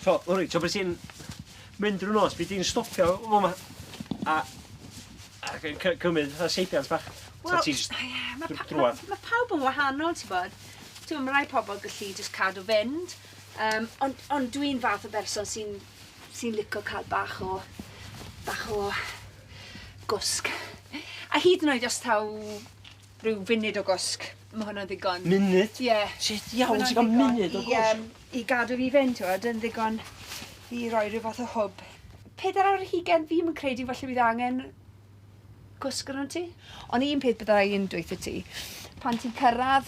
So, Lori, ti'n bod ti'n mynd drwy nos, byd ti'n stopio o yma a, a cymryd y seibiant bach? Wel, ie, yeah, mae pa, ma, ma pawb yn wahanol, ti'n bod. Ti'n mae rai pobl gallu just cadw fynd, um, ond on dwi'n fath o berson sy'n sy licio cael bach o, bach o gwsg. A hyd yn oed os taw Rhyw funud o gwsg. Ma' hwnna'n ddigon. Munud? Ie. Shit iawn ti ga'l munud o gwsg? Ma' hwnna'n ddigon i yym i gadw fi fynd t'wod yn ddigon i roi ryw fath o hwb. Pedair awr ar hugen fi'm yn credu falle bydd angen gwsg arnot ti. On' un peth bydda i yn dweutho ti pan ti'n cyrradd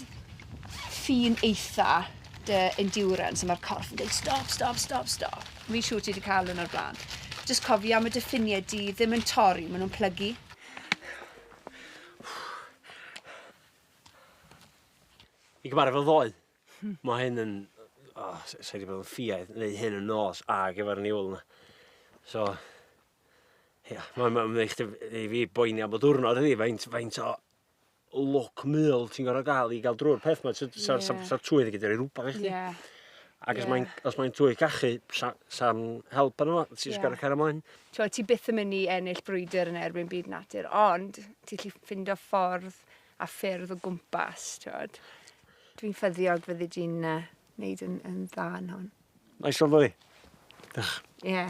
ffin eitha dy endurance a ma'r corff yn deud stop stop stop stop fi'n siŵr ti 'di ca'l 'wn o'r bla'n jyst cofia ma' dy ffinie di ddim yn torri ma' nw'n plygu. I gymaru fel ddoe, hmm. mae hyn yn... O, oh, sa'i wedi bod yn ffiaidd, neu hyn yn nos ag efo'r niwl yna. So, ia, mae'n ma, ma eich i fi boeni am y diwrnod ydi, faint, faint o look mil ti'n gorau gael i gael drwy'r peth mae'n sa'r yeah. sa, sa, twydd i gyda'r ei rhywbeth i chdi. Yeah. Ac os yeah. mae'n mae cachu, sa'n sa help yna, ti'n yeah. gorau cael ymlaen. t'wod ti byth yn myn' i ennill brwydr yn erbyn byd natur ond ti 'llu ffindo ffordd a ffyrdd o gwmpas t'wod. Dwi'n ffyddiog fyddi di'n yy neud yn yn dda yn hwn. Nice one boy. Dioch. Ie.